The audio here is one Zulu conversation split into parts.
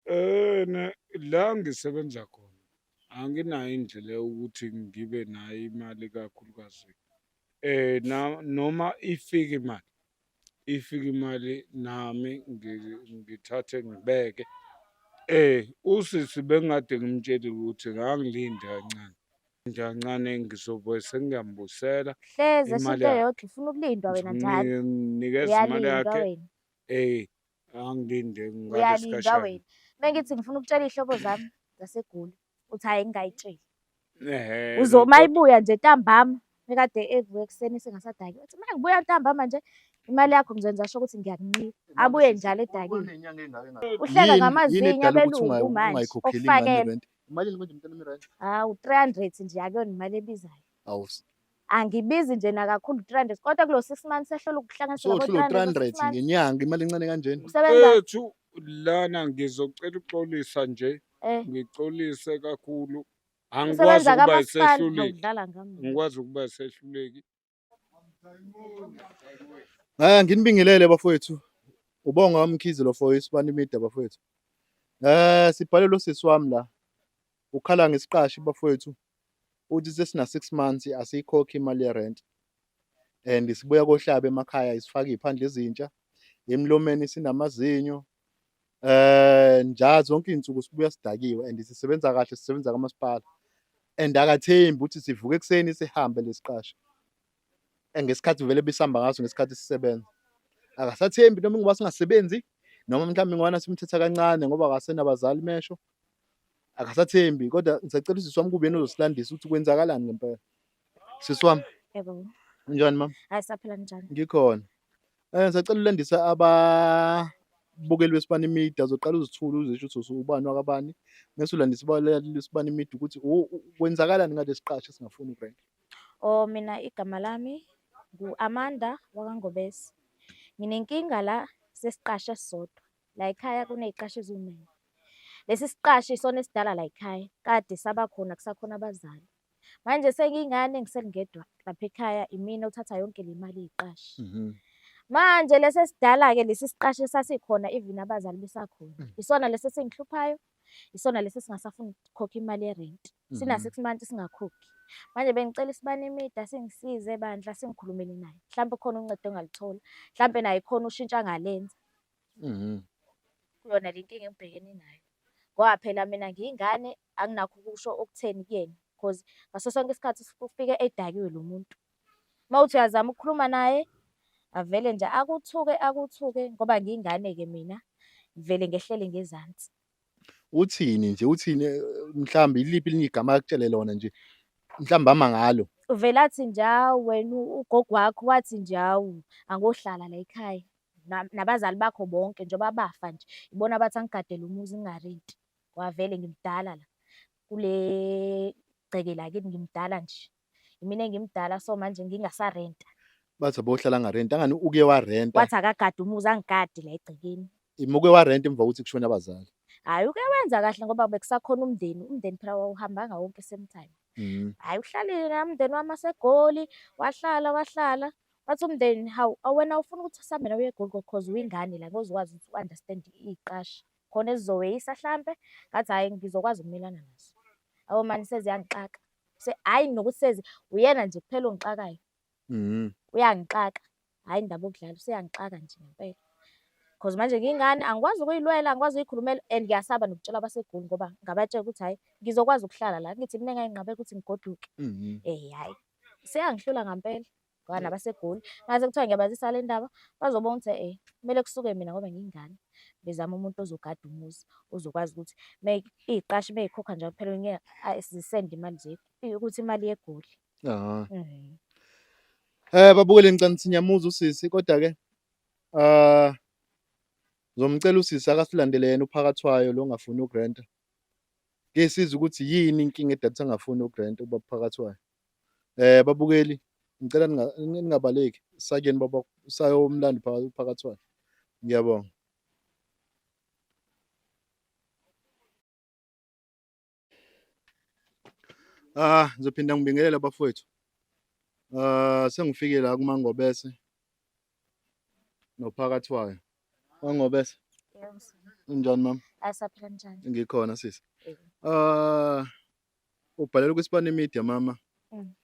Eh, ne- la ngisebenza khona anginayo indlela yokuthi ngibe nayo imali kakhulukazi eh na noma ifike imali ifike imali nami ngi- ngithathe ngibeke eh usisi bengade ngimtshele ukuthi ngangilinde kancane nje kancane ngizobe sengiyambusela Hleze Imali shinto yakhe. yodwa ufuna ukulindwa wena njalo. ngimnikeza imali Uyalindwa yakhe wena. eh angilinde uyalindwa wena mengithi ngifuna ukutshela iy'hlobo zami zasegoli uthi hhayi ngingayitsheli uzoma ibuya nje ntambama mekade evuka ekuseni sengasadaki uthi mina ngibuya ntambama nje imali yakho ngizenza sho ukuthi ngiyakunqika abuye njalo edakile uhleka ngamazinyo abelungu manje okufakela hawu 300 nje akuyona imali ebizayo angibizi nje nakakhulu 300 kodwa kulo 6 months ehlola ukuhlanganisa so labo thula 300 300 six months. ngenyanga imali encane kanjena usebenza Ethu lana ngizocela ukuxolisa nje, eh ngixolise kakhulu. Angikwazi usebenza ukuba kamasipala isehluleki. awudlala ngami Angikwazi ukuba isehluleki. Eh nginibingelele bafowethu. Ubonga umkhizi lo for isibani media bafowethu. Eh sibhale lo sisi wami la. Ukhala ngesiqashi bafowethu uthi sesina 6 months asiyikhokhi imali yerent and sibuya kohlaba emakhaya isifaka iphandle ezintsha emlomeni sinamazinyo eh nja zonke izinsuku sibuya sidakiwe and sisebenza kahle sisebenza kamasipala and akathembi ukuthi sivuke ekseni sihambe lesiqasha ngesikhathi vele bisihamba ngaso ngesikhathi sisebenza akasathembi noma ngoba singasebenzi noma mhlawumbe ngwana simthetha kancane ngoba akasenabazali mesho akasathembi kodwa ngisacela usisi wami kube yena ozosilandisa ukuthi kwenzakalani ngempela sisi wami yebo unjani mama hayi saphila njani ngikhona eh ngisacela ulandisa ababukeli besibani media zoqala uzithula uzisho ukuthi ubani wakabani mese ulandisa ababukeli besibani media ukuthi kwenzakalani ngalesi qasho singafuni ubrand Oh mina igama lami ngu-Amanda wakaNgobese. Nginenkinga la sesiqashe esisodwa. La ekhaya kuney'qashi eziwu-nine. Lesi siqashi isona esidala la ekhaya, kade saba khona kusakhona abazali. Manje sengiyingane ngisengedwa lapha ekhaya, imina othatha yonke le mali yeqashi. Mhm. Manje lesi esidala-ke lesi siqashi esasikhona even abazali besakhona. Isona lesi esingihluphayo, isona lesi singasafuni ukukhokha imali yerent mhm. sina six months singakhokhi manje bengicela isibani imida singisize bandla singikhulumele naye mhlawumbe khona uncedo engalithola mhlawumbe naye khona ushintsha ngalenza mhm. kuyona le nkinga engibhekene nayo ngoba phela mina ngiyingane anginakho ukusho okutheni kuyena because ngaso sonke isikhathi ufike edakiwe lo muntu Uma uthi uyazama ukukhuluma naye, avele nje akuthuke akuthuke ngoba ngiyingane-ke mina, ngivele ngehlele ngezansi. Uthini nje, uthini eh, mhlawumbe iliphi elinye igama akutshele lona nje, mhlawumbe ama ngalo. Uvele athi nje, hawu wena u- ugogo wakho wathi nje, hawu angohlala la ekhaya Na- nabazali bakho bonke njengoba bafa nje, ibona abathi angigadele umuzi ngingarenti. Ngoba vele ngimdala la, kule gceke lakithi ngimdala nje. Imina engimdala so manje ngingasarenta. Bathi abohlala ngarenta ngani uke warenta. Wathi akagadi umuzi angigadi la egcekeni. Imuke warenta emva kokuthi kushone abazali. Hayi uke wenza kahle ngoba bekusakhona umndeni. Umndeni phela wawuhambanga wonke same time. Mm. Hayi uhlalile na umndeni wami asegoli wahlala wahlala. Wathi umndeni hawu awena ufuna ukuthi sambe nawe egoli because uyingane la ngozokwazi ukuthi u-understand iqasha. Khona ezizoweyisa hlampe ngathi hayi ngizokwazi ukumelana naso. Awu mani seziyangixaka. Se hayi nokuthi sezi uyena nje kuphela ongixakayo. Mhm. Uyangixaka. Hayi indaba okudlala useyangixaka nje ngempela. Because manje ngingane angikwazi ukuyilwela, angikwazi ukuyikhulumela and ngiyasaba nokutshela abaseGoli ngoba ngabatshela ukuthi hayi ngizokwazi ukuhlala la. Ngithi mina ngayinqabela ukuthi ngigoduke. Mhm. Eh hayi. Seyangihlula ngampela. bhana basegoli ngaze kuthiwa ngiyabazisa le ndaba bazobona ukuthi eh kumele kusuke mina ngoba ngiyingane bezama umuntu ozogada umuzi ozokwazi ukuthi iyiqashi meyikhokha njalo phela ngeke zisende imali nje ukuthi imali yegoli ah mhm. eh babukele ngicela sinyamuza usisi kodwa ke ah ngizomcela usisi akasilandele yena uphakathwayo lo ngafuni ugranta ngesiza ukuthi yini inkinga edatha ngafuni ugranta ubaphakathwayo Eh babukeli ngicela ningabaleki sakeni baba sayo umlandi phakathi kwakhe. Ngiyabonga. Ah ngizophinda ngibingelele bafowethu. Ah sengifike la kuMangobese nophakathi wayo. Mangobese. Yebo. Unjani mama? Asaphila njani? Ngikhona sisi. Ah Ubhalele kwisibani media mama. Mm.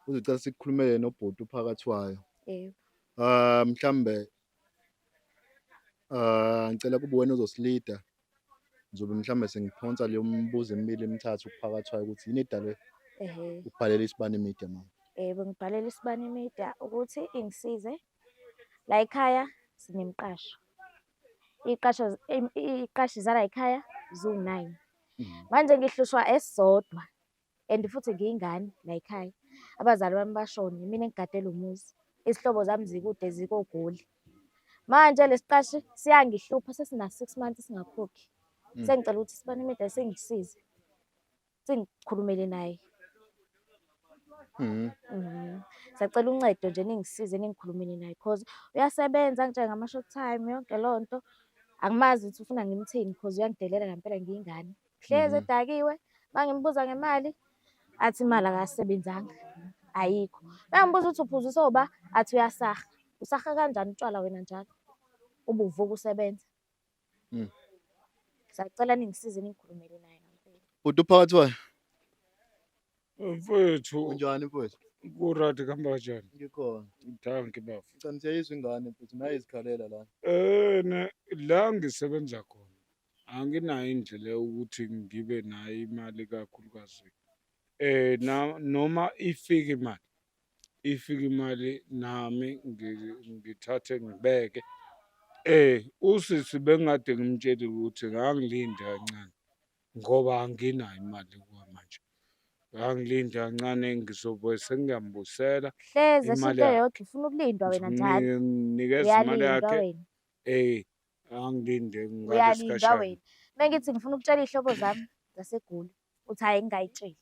Uzocela sikukhulumele nobhuti uphakathi wayo. Yebo. Ah mhlambe ah ngicela kube wena ozosilida. Ngizobe mhlambe sengiphonsa leyo mbuzo emibili emithathu kuphakathi wayo ukuthi yini edale Ehhe. ubhalele isibani media mama. Yebo ngibhalele isibani media ukuthi ingisize. La ekhaya sinemqasho. iqasho iqashi zala ekhaya ziwu-9 mm. manje ngihlushwa esisodwa and futhi ngiyingane la ekhaya abazali bami bashone mina engigadela umuzi izihlobo zami zikude zikogoli manje lesiqashi siyangihlupha sesina 6 months singakhokhi mm. sengicela ukuthi sibanimida sengisize sengikhulumele naye Mhm. Mhm. Sacela uncedo nje ningisize ningikhulumele naye cause uyasebenza angitshele ngama-short time yonke leyo nto. Angimazi ukuthi ufuna ngimthini cause uyangidelela ngempela ngiyingane. Hlezi Mhm. edakiwe, uma ngimbuza ngemali athi imali akasebenzanga, ayikho. Uma ngibuza ukuthi uphuzisa oba athi uyasaha. Usaha kanjani utshwala wena njalo? Ubuvuka usebenza. Mm. Sacela ningisize ningikhulumele naye ngampela. Uthi uphakathi wayo? Mfethu Unjani mfowethu? kurati kuhamba kanjani? Ngikhona. Danki bafo. Ngicela siyayizwa ingane mfethu naye izikhalela la. Eh ne la ngisebenza khona. Anginayo indlela yokuthi ngibe nayo imali kakhulukazi. Eh na noma ifika imali ifike imali nami ngithathe ngibeke eh usisi bengade ngimtshele ukuthi ngangilinde kancane ngoba anginayo imali kwamanje ngangilinde kancane ngizobe sengiyambusela hleze imali into yodwa ufuna ukulindwa wena njalo nginikeza imali yakhe eh angilinde ngalesikhashana uyalinda wena mengithi ngifuna ukutshela ihlobo zami zasegoli uthi hayi ngingayitsheli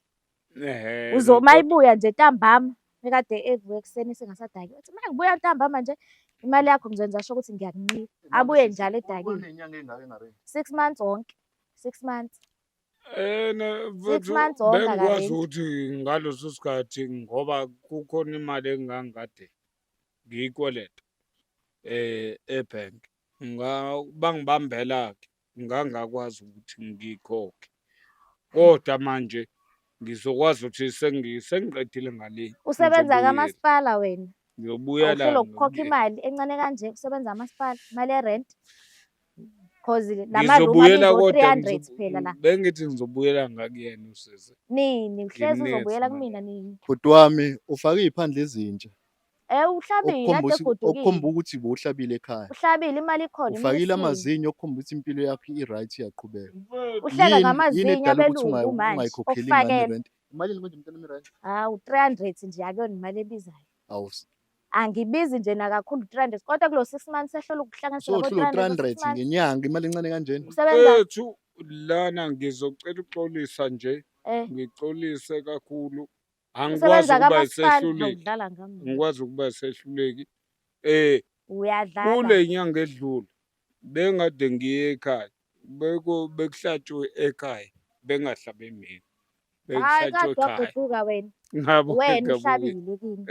uzoma ibuya nje ntambama ekade evuka ekuseni sengasadaki uthi uma ngibuya ntambama nje imali yakho ngizenza sho ukuthi ngiyakunqika abuye njalo edakile six months wonke six months bengikwazi ukuthi ngaleso sikhathi ngoba kukhona imali engangikade ngiyikweleta um ebhenki bangibambela-ke ngangakwazi ukuthi ngikhokhe kodwa manje ngizokwazi ukuthi sengiqedile ngale usebenza kamasipala wena ngiyobuya la uhlokukhoka imali encane kanje kusebenza amasipala imali yerent cause ngizobuyela kodwa phela la bengithi ngizobuyela ngakuyena usisi nini uhlezi uzobuyela kumina nini bhuti wami ufake iphandle izinja Eh uhlabile Okukhomba ade ukuthi- egodukile. okukhomba ukuthi bowuhlabile ekhaya Uhlabile imali ikhona. imali ufakile isile. amazinyo okukhomba ukuthi impilo yakho i-right iyaqhubeka Uhleka Yini- yini ngamazinyo edala ukuthi abelungu ungayi- manje. ungayikhokheli ingane Ofakela. irent imalini manje mntanami irent Hawu 300 nje akuyona imali ebizayo. awu Angibizi nje nakakhulu 300 kodwa kulo 6 months ehlola ukuhlanganisa labo sohlula 300 kulo 300 six months. ngenyanga imali encane kanjena Usebenza Ethu lana ngizocela uxolisa nje eh ngixolise kakhulu angikwazi Usebenza ukuba kamasipala isehluleki awudlala ngami. ngikwazi ukuba isehluleki eh Uyadlala. kule nyanga edlule bengade ngiye ekhaya beko bekuhlatshwe ekhaya bengahlabe mina Hayi bekuhlatshwe kodwa ekhaya guquka wena. ngabo Wena ngabuyela uhlabile kimi.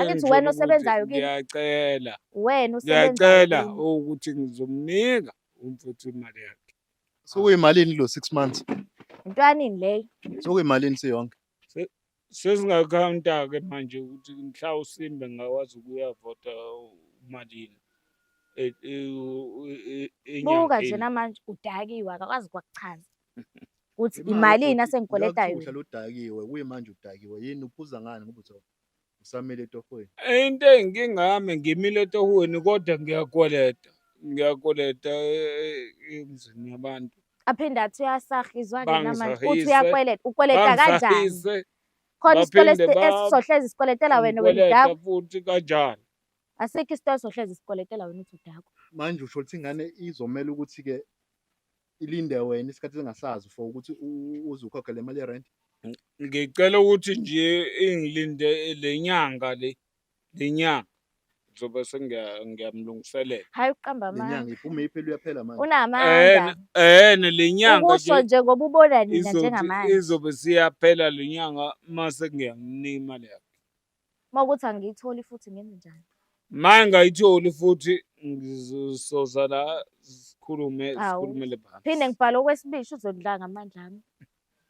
Angithi wena engitshela osebenzayo ukuthi kimi? ngiyacela Wena usebenza ngiyacela kimi. ukuthi ngizomnika umfuthu imali yakhe Sokuyimalini lo 6 months? Intwanini leyo. Sokuyimalini siyonke? Sesingakhawunta-ke manje ukuthi mhla uSimba engakwazi ukuyavota uMalini e- e- u- e- e- buka enyangeni. njena manje udakiwe akakwazi kwakuchaza ukuthi Imali imalini uthi asengikweletayo uyakuhla lodakiwe kuyimanje udakiwe yini uphuza ngani ngoba uthi usamile etohweni into eyinkinga yami ngimile etohweni kodwa ngiyakweleta ngiyakweleta eh, eh, emzini yabantu aphinde athi uyasahizwa ke namanje uthi uyakweleta ukweleta kanjani khona isitolo esizohlezi sikweletela wena wena udakwa futhi kanjani asikho isitolo esizohlezi sikweletela wena uthi udakwa manje usho ukuthi ingane izomela ukuthi-ke ilinde wena isikhathi singasazi for ukuthi uze ukhokhe le mali yerenti ngicela ukuthi nje ingilinde le nyanga le le nyanga ngizobe sengiyamlungiselela hayi uqamba amanga lenyanga iphume iphela uyaphela manje unamanga eh le nyanga ukusho nje ngoba ubona nina njengamanje izobe siyaphela le nyanga mase ngiyanginima leyo Uma ukuthi angiyitholi futhi ngenze njani? Uma engayitholi futhi ngizosoza la sikhulume sikhulumele phansi. Phinde ngibhale okwesibili uzodla ngamandla ami.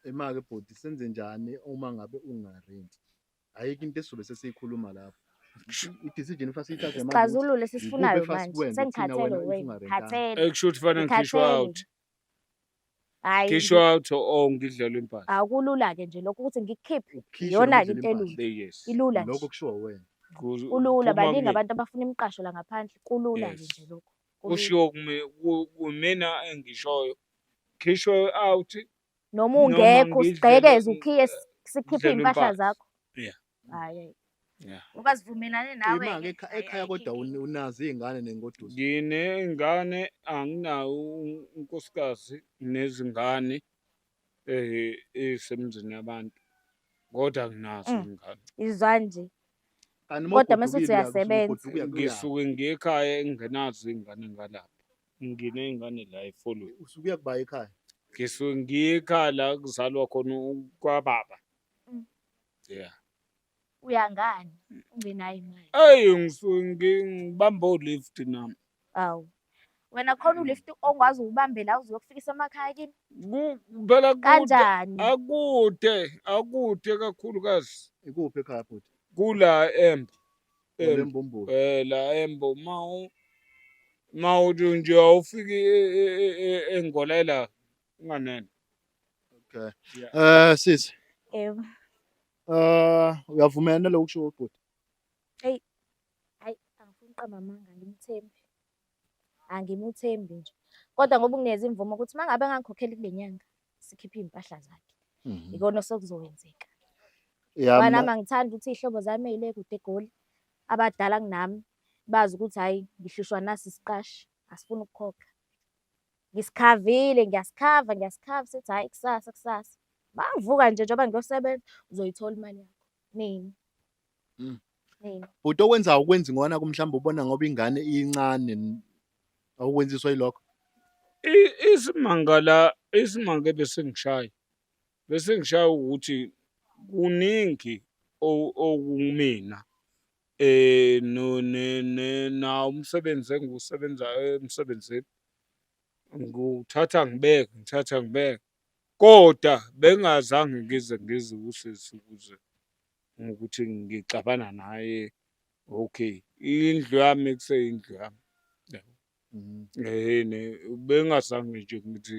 Imake bhuti senze njani uma ngabe ungarenti? Ayikho into esizobe sesiyikhuluma lapho. I-decision kufanele siyithathe manje. Sixazulule sisifunayo manje. Sengikhathele wena. Khathele. Ekusho ukuthi fanele ngikhishwe out. hayi Khishwa out oh ngidlala impahla. akulula ke nje lokho ukuthi ngikhiphe Ukhishwe iyona ngendlela into impahla. elula Yes. ilula nje Lokho kushiwo wena. Ku- kulula kuphuma baningi kimi. abantu abafuna imiqasho la ngaphandle kulula nje Yes. nje lokho kulula. Kushiwo kimi ku- kumina engishoyo. Khishwa out. noma noma ungekho ngidlele- usigqekeze ukhiye s- sikhiphe ngidlele iy'mpahla impahla. zakho Yeah. hayi Yeah. ngoba sivumelane nawe Imanga ngeke- ekha- ekhaya ayi, kodwa ayi, un- unazo iy'ngane nengoduso. Nginey'ngane anginawo un- unkosikazi nezingane eh ezisemzini yabantu kodwa nginazo Mm. iy'ngane. izwa nje Kanti uma Kodwa mese uthi ugodukile, uyakuthi uyasebenza. ugoduka uyakuya. Ngisuke ngiye ekhaya engenazo iy'ngane ngalapha. Nginey'ngane la eFolweni. Usuke uya kuba ekhaya. Ngisuke ngiye ekhaya la kuzalwa khona u- kwababa. Mm. yeah uya ngani ungenayo imali eyi ngibamba ulift nami awu wena khona mm. ulift ongwazi ukubambela uzokufikisa emakhaya kini phela kanjani akude akude kakhulukazi ikuphi ekhaya futhi kula embo embombo eh la embo ma ma uthi nje awufiki e, e, e, engolela unganene Okay. Yeah. Eh sisi. Yebo. Eh uyavumela nalokho kusho ubhuti. Hey. Hayi angifuni uqamba amanga ngimthembi. Angimuthembi nje. Kodwa ngoba ungineza imvumo ukuthi mangabe ngangikhokheli kule nyanga sikhiphe impahla zakhe. Mhm. Ikona sokuzowenzeka. Yeah. Bana mina- mangithanda ukuthi ihlobo zami eyile kude egoli abadala kunami bazi ukuthi hayi ngihlushwa nasi siqashi asifuni ukukhokha. Ngisikhavile, ngiyasikhava, ngiyasikhava, sithi hhayi kusasa, kusasa. Bavuka nje njengoba ngiyosebenza, uzoyithola imali yakho. Nini? Mm. Nini? Bhuti okwenza awukwenzi ngona ku mhlawumbe ubona ngoba ingane incane n- awukwenziswa yilokho. I- Isimanga la isimanga ebesingishaye besingishaye ukuthi kuningi o- okumina eh no ne ne na umsebenzi engiwusebenzayo emsebenzini Nguthatha ngibeke, ngithatha ngibeke. Koda bengingazange ngize ngizwe usisi ukuze ngokuthi ngixabana naye. Okay, indlu yami kuseyindlu yami. Yabo? Mhm. Ehhe ne bengingazange nje ngithi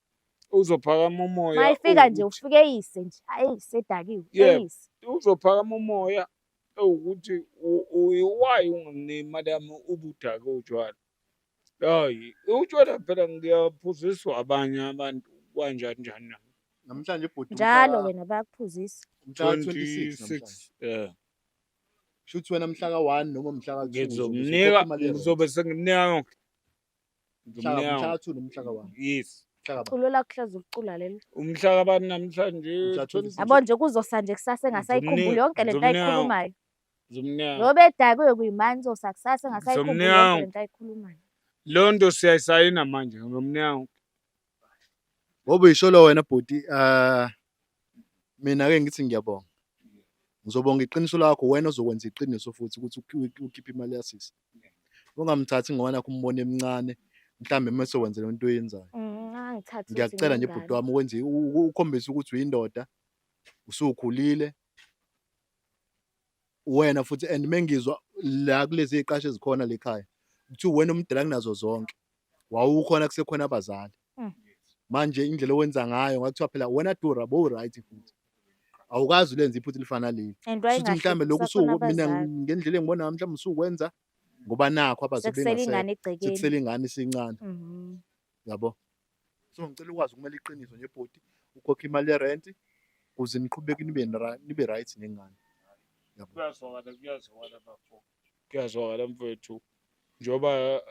uzophakama umoya mayifika nje ufike eyise nje ayi sedakiwe eyise uzophakama umoya ewukuthi uyiwayi unganemali yami ubudake utshwala hayi utshwala phela ngiyaphuziswa abanye abantu kwanjani njani na namhlanje ibhuti njalo wena bayakuphuzisa mhla 26 yeah shuthi wena mhla ka-1 noma mhla ka-2 ngizomnika ngizobe sengimnika yonke Culo lakuhlezi ukucula leli. Umhla kabani namhlanje? Yabo nje kuzosa nje kusasa engasayikhumbuli yonke lento ayikhulumayo. Zomnyango. Ngoba edakiwe kuyimanje uzosa kusasa engasayikhumbuli yonke lento ayikhulumayo. Lo nto siyayisayina manje ngomnyango. Ngoba uyisholo wena bhuti uh, mina ke ngithi ngiyabonga. Ngizobonga iqiniso lakho wena ozokwenza iqiniso futhi ukuthi ukhiphe imali yasisi. ungamthathi ngoba nakho umbona emncane mhlawumbe uma sewenzela into oyenzayo mm, angithathi ngiyakucela nje bhuti wami ukwenze ukhombisa ukuthi uyindoda usukhulile wena futhi and mengizwa la kulezi ziqashe ezikhona lekhaya ukuthi wena umdala kunazo zonke wawukhona kusekhona abazali mm. manje indlela owenza ngayo ngathiwa phela wena dura bo right futhi awukazi ulenza iphutha elifana leli futhi mhlawumbe lokhu suku mina ngendlela engibona ngami mhlawumbe usukwenza ngoba nakho abasebengasele ingane isincane mhm. yabo so ngicela ukwazi ukumela iqiniso nje bhoti ukhokha imali yerent kuze niqhubeke nibe nibe right nengane yabo kuyazwakala kuyazwakala bafo kuyazwakala mfethu njengoba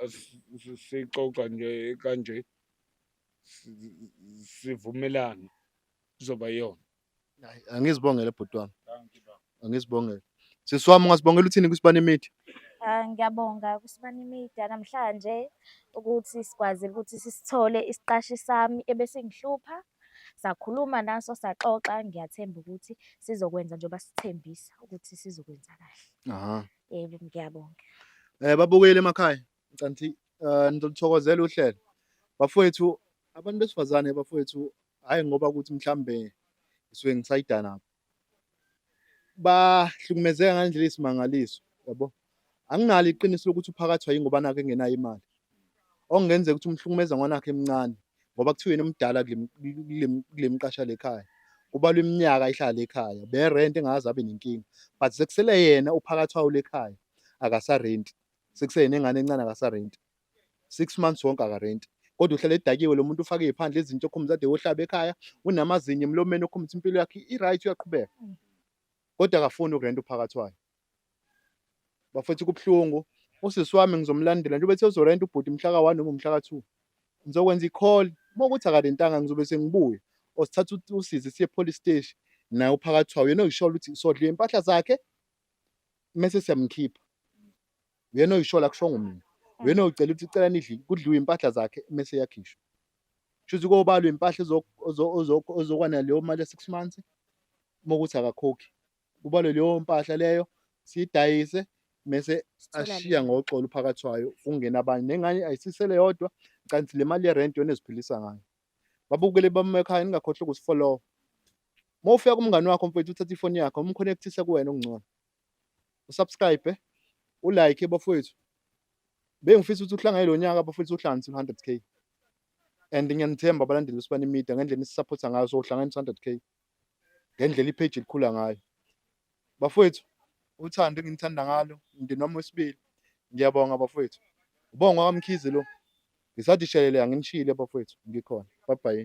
sixoxa nje kanje sivumelana kuzoba yona angizibongele bhuti wami angizibongele sisi wami ungasibongela uthini kwisibani imithi ah, ngiyabonga kusibani imithi namhlanje ukuthi sikwazile ukuthi sisithole isiqashi sami ebesingihlupha sakhuluma naso saxoxa ngiyathemba ukuthi sizokwenza njengoba sithembisa ukuthi sizokwenza kahle Aha. Yebo ngiyabonga. Eh babukeli emakhaya. Ngicela ukuthi eh nizolithokozela uhlelo. Bafowethu abantu besifazane bafowethu hayi ngoba ukuthi mhlambe ngisuke ngisayida nabo. Bahlukumezeka ngandlela isimangaliso, yabo. Anginalo iqiniso lokuthi uphakathwa yingoba nake engenayo imali. okungenzeka ukuthi umhlukumeza ngwana wakhe emncane ngoba kuthiwa yena umdala kule mqasha lekhaya kubalwa iminyaka ihlala ekhaya berent engaze abe nenkinga but sekusele yena uphakathi wawo lekhaya akasarenti sekuseyena engane encane akasarenti six months wonke akarenti kodwa uhlala edakiwe lo muntu ufake iphandle izinto okhumza ade wohlaba ekhaya unamazinyo emlomeni okhumza impilo yakhe i-right uyaqhubeka kodwa akafuni ukurenta uphakathi wayo bafethu kubuhlungu usisi wami ngizomlandela njengoba ethe uzorenta ubhuti mhla ka-one noma umhla ka-two ngizokwenza i-call uma ukuthi akalentanga ngizobe sengibuye or sithatha usizi siye police steshi naye uphakathi wawo yena oyishola ukuthi sodla iy'mpahla zakhe mese siyamkhipha uyena oyishola kushongo mina uyena oyicela ukuthi cela nidli kudliwe iy'mpahla zakhe mese yakhishwa shuthi kobalwa impahla ozokwana leyo mali ya-six months uma ukuthi akakhokhi kubalwe leyo mpahla leyo siyidayise mese ashiya ngoxolo phakathi wayo kungena abanye nengane ayisisele yodwa kanti le mali yerent yona eziphilisa ngayo babukele bamekhaya ningakhohlwa ukusifollowa uma ufika kumngane wakho mfethu uthatha ifoni yakho umconnectise kuwena okungcono usubscribe ulike bafowethu bengifisa ukuthi uhlangane lo nyaka bafowethu uhlanganise 100 k and ngiyanithemba abalandeli besibani media ngendlela esisaphotha ngayo so uhlanganisa 100 k ngendlela ipage likhula ngayo bafowethu uthando engimthanda ngalo umndeni wami wesibili ngiyabonga bafowethu ubonga kwamkhize lo ngisathi shelele anginishile bafowethu ngikhona bye bye